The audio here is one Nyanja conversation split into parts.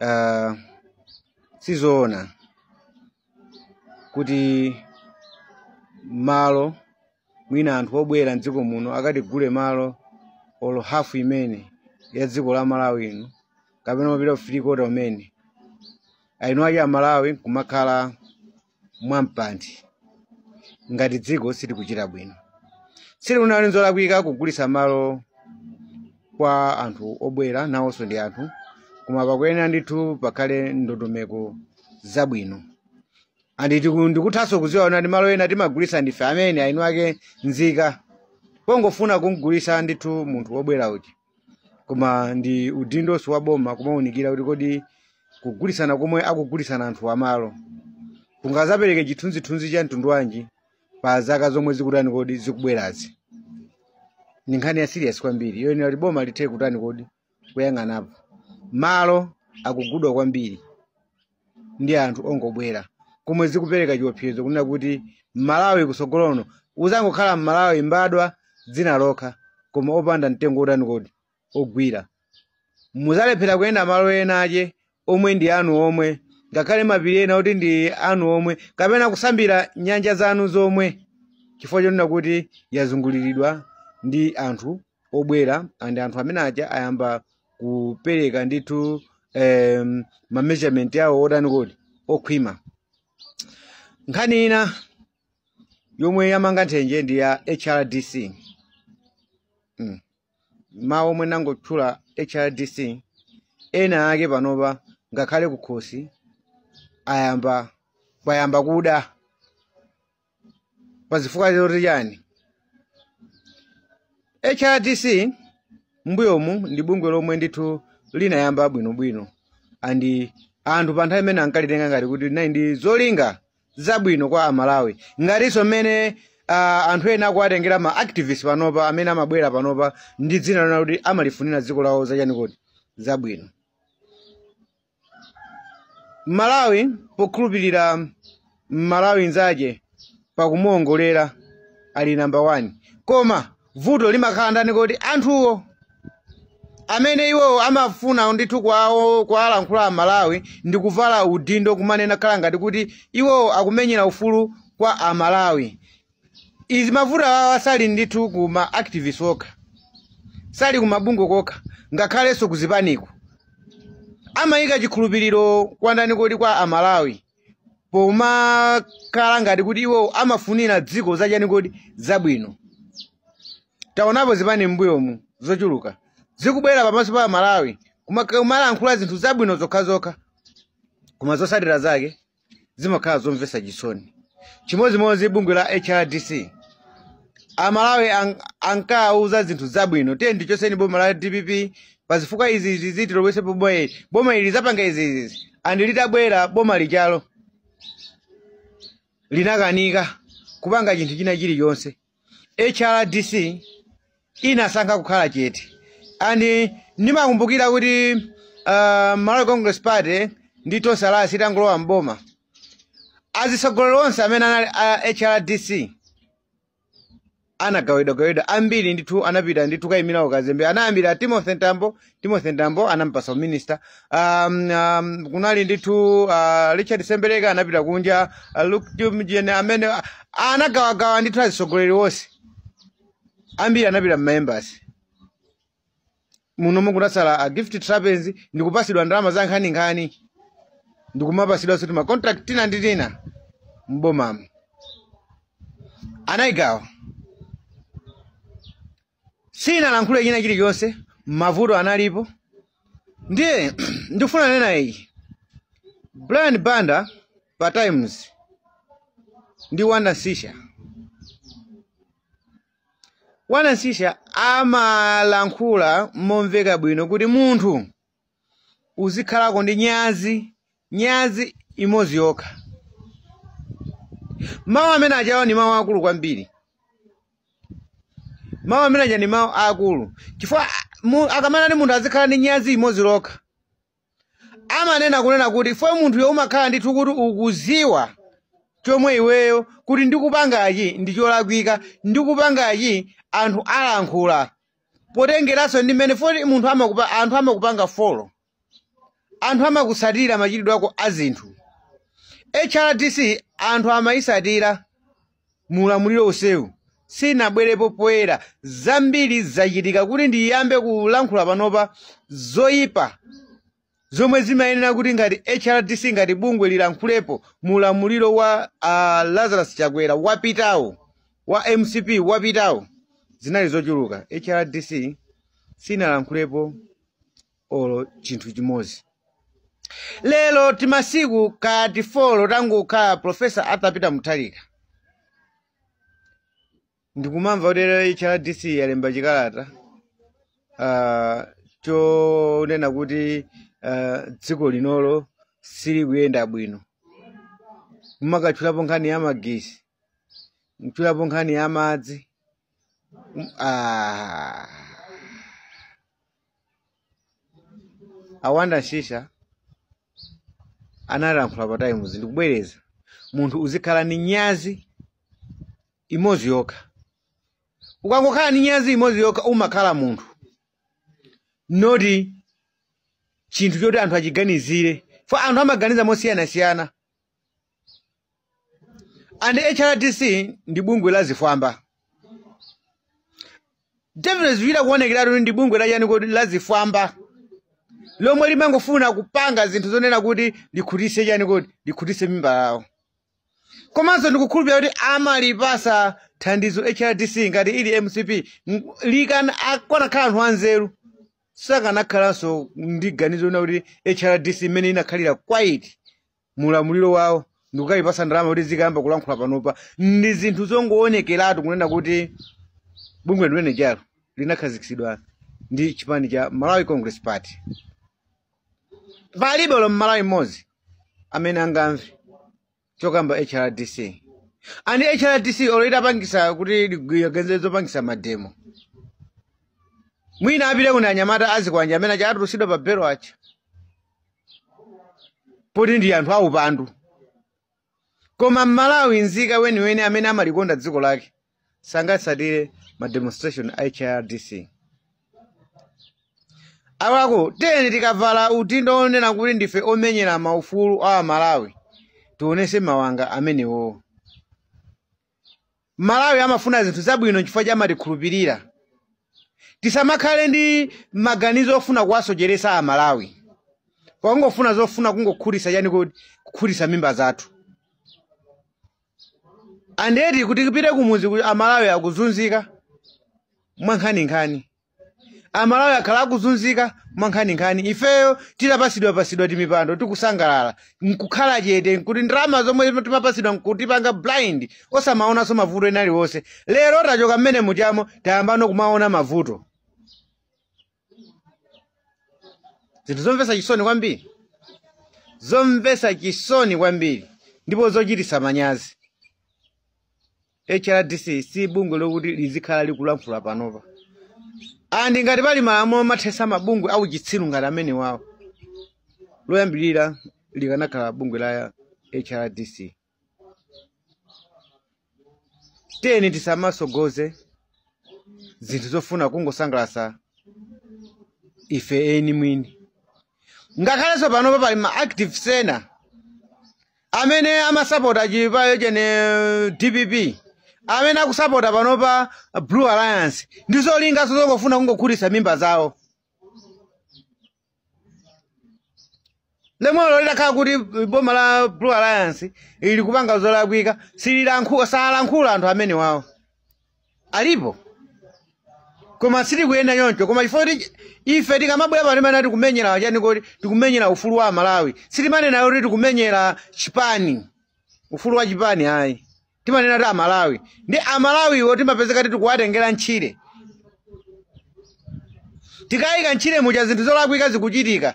uh, sizoona kuti malo mwina anthu obwera mdziko muno akatigule malo olo hafu imene ya dziko la malawi ino kapena kumapita ku three quarter imene eni ake amalawi kumakhala mwamphanthi ngati dziko sitikuchita bwino si kuti nzolakwika kugulitsa malo kwa anthu obwera nawonso ndi anthu koma pakuyenera ndithu pakhale ndondomeko zabwino andi tiku- ndikuthanso kudziwa kuti malo ena timagulitsa ndife amene eni ake nzika pongofuna kumgulitsa ndithu munthu wobwera uja koma ndi udindonso wa boma kumaunikira kuti kodi kugulitsana komwe akugulitsana anthu amalo kungazapereke chithunzithunzi cha mtundu wanji pa zaka zomwe zikutani kodi zikubwerazi ndi nkhani ya serious kwambiri yoyenera kuti boma lithe kutani kodi kuyang'anapo malo akugudwa kwambiri ndi anthu ongobwera komwe zikupereka chiopsezo kunena kuti mmalawi kusogolo uno uzangokhala mmalawi mbadwa dzina lokha koma opanda mtengo otani kodi ogwira muzalephera kuyenda malo ena ache omwe ndi anu omwe ngakhale mapiri ena oti ndi anu omwe kapena kusambira nyanja zanu zomwe chifukwa chonena kuti yazunguliridwa ndi anthu obwera and anthu amene aja ayamba kupereka ndithu um, ma measurement awo otani kodi okhwima nkhani ina yomwe yamanga nthenje ndi ya hrdc mm. mawu omwe ndangotchula hrdc ena ake panopa ngakhale kukhosi ayamba payamba kuda pazifukwa zoti chani hrdc mbuyomu ndi bungwe lomwe ndithu linayamba bwinobwino andi anthu pa nthawi imene ankalitenga ngati kuti linali ndi zolinga zabwino kwa amalawi ngatinso mmene uh, anthu ena akuwatengera ma activist panopa amene amabwera panopa ndi dzina lonena kuti amalifunira dziko lawo zachani kodi zabwino mmalawi pokhulupirira mmalawi nzache pakumuongolera ali namba 1 koma vuto limakhala ndani kodi anthuwo amene iwowo amafuna ndithu kuwa- kuwalankhula amalawi ndi kuvala udindo kumanena kukhala ngati kuti iwowo akumenyera ufulu kwa amalawi izi mavuto awa sali ndithu ku ma activist okha sali ku mabungwe kokha ngakhalenso ku zipaniko amayika chikhulupiriro kwa ndani kodi kwa amalawi pomakhala ngati kuti iwo amafunira dziko zachani kodi zabwino taonapo zipani m'mbuyomu zochuluka zikubwera pamaso pa amalawi kuma- kumalankhula zinthu zabwino zokhazokha koma zotsatira zake zimakhala zomvetsa chisoni chimodzimodzi bungwe la hrdc amalawi ang- ankawauza zinthu zabwino tiyeni tichotse boma la dpp pa zifukwa izi izi ziti tibwezepo boma ili boma ili lizapanga izi izi and litabwera boma lijalo linakanika kupanga chinthu china chilichonse hrdc inasankha kukhala chete and ndimakumbukira kuti uh, malawi congress party ndi Tonse Alliance itangolowa mboma azitsogoleri onse amene anali a hrdc anagawidwagawidwa ambiri ndithu anapita ndithu kukayimira ukazembe anayambira timothy mtambo timothy mtambo anampasa uminista um, um, kunali ndithu uh, richard sembereka anapita kunja uh, luke jumjen amene uh, anagawagawa ndithu azisogoleri onse ambiri anapita mmaembasi muno munatsala a gift trapence ndikupasidwa ndalama za nkhaninkhani ndikumapasidwanso ti ma contract tina ndi tina mbomamu anayigawa sinalankhule china chilichonse mavuto analipo ndiye ndikufuna kunena iyi brian banda pa times ndi wonder msiska wonder msiska amalankhula momveka bwino kuti munthu uzikhalako ndi nyazi nyazi imodzi yokha mawu amene ajawo ndi mawu akulu kwambiri mawu amene aja ndi mawu akulu chifukwa mu- akamanena kuti munthu azikhala ndi nyazi imodzi lokha amanena kunena kuti iwe munthuyo umakhala ndithu kuti ukuziwa chomwe iweyo kuti ndikupangachi ndi cholakwika ndikupangachi anthu alankhula potengeranso ndi mmene kuti munthu amakupa anthu amakupanga follow anthu amakusatira machitidwe ako a zinthu hrdc anthu amayisatira mu ulamuliro onsewu sinabwerepo poyera zambiri zachitika kuti ndiyambe kulankhula panopa zoyipa zomwe zimayenera kuti ngati hrdc ngati bungwe lilankhulepo mu ulamuliro wa a lazarus chakwera wapitawo wa mcp wapitawo zinali zochuluka hrdc sinalankhulepo olo chinthu chimodzi lero timasiku ngati folo tangokhala profesa arthur peter mutharika ndikumamva kuti hrdc yalemba chikalata ah, chonena kuti ah, dziko linolo silikuyenda bwino kumakatchulapo nkhani ya magesi kutchulapo nkhani ya madzi Mm, ah. awanda shisha analankhula pa times ndikubwereza munthu uzikhala ni nyazi imodzi yokha ukangokhala ndi nyazi imodzi yokha umakhala munthu noti chinthu choti anthu achiganizire fo anthu amaganiza mosiyanasiyana and hrdc ndi bungwe la zifwamba definitely zichita kuonekeratu ndi bungwe la chani kodi la zifwamba lomwe limangofuna kupanga zinthu zonena kuti likhutise chani kodi likhutise mimba zawo komanso ndikukhulupirira kuti amalipasa thandizo hrdc ngati ili mcp m- likana akanakhala anthu anzeru sakanakhalanso ndi ganizo lonena kuti hrdc imene inakhalira quiet mulamuliro wawo ndikukayipasa ndalama kuti izikayamba kulankhula panopa ndi zinthu zongowonekeratu kunena kuti bungwe limene lijalo linakhazikitsidwa ndi chipani cha malawi congress party palibe olo mmalawi mmodzi amene angamve chokamba hrdc and hrdc olo itapangisa kuti ikonze zopangisa mademo mwina apiteko ndi anyamata azikwanja amene aja atulusidwa pa belo aja poti ndi anthu aupandu koma mmalawi nzika weniweni amene amalikonda dziko lake sangatsatire ma demonstration a hrdc awako tiyeni tikavala udindo wonena kuti ndife omenyera maufulu a amalawi tionese mawanga amenewowo amalawi amafuna zinthu zabwino nchifukwa chake amatikhulupirira tisamakhale ndi maganizo ofuna kuwasocheresa a malawi pakungofuna zofuna kungokhutisa chani kodi kukhutisa mimba zathu and yet kuti mupite kumuziku amalawi akuzunzika mwankhaninkhani Amalawi akhala akuzunzika mwankhaninkhani ifeyo titapasidwa pasidwa timipando tikusangalala nkukhala chete kuti ndalama zomwe timapasidwa nkutipanga blind osamaonanso mavuto ena aliwonse lero tachoka mmene muchamo tayambano kumaona mavuto zinthu zomvesa chisoni kwambiri zomvesa chisoni kwambiri ndipo zochitisa manyazi hrdc si bungwe lokuti lizikhala likulankhula panopa andi ngati pali malamulo omathesa mabungwe auchitsiru ngati amenewawo loyambirira likanakhala bungwe la hrdc tiyeni tisamasogoze zinthu zofuna kungosangalasa ife eni mwini ngakhalenso panopa pali ma activist ena amene amasapota chipani cha dpp amene akusapota panopa blue alliance ndi zolinga zongofuna kungokhutitsa mimba zawo nde olo zitakhala kuti boma la blue alliance ili kupanga zolakwika sililankhula salankhula anthu amenewawo alipo koma sitikuyenera choncho koma chifukwa choti ife tikamabwera pano timanena tikumenyera chani kuti tikumenyera ufulu wa amalawi sitimanena kuti tikumenyera chipani ufulu wa chipani ayi timanena kuti amalawi ndi amalawiwo timapezeka kuti tikuwatengera kutchire tikayika mtchire muja zinthu zolakwika zikuchitika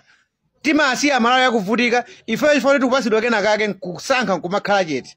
timasiya amalawi akuvutika ifeyo chifukwa choti tikupasidwa kena kake nkusankha nkumakhala chete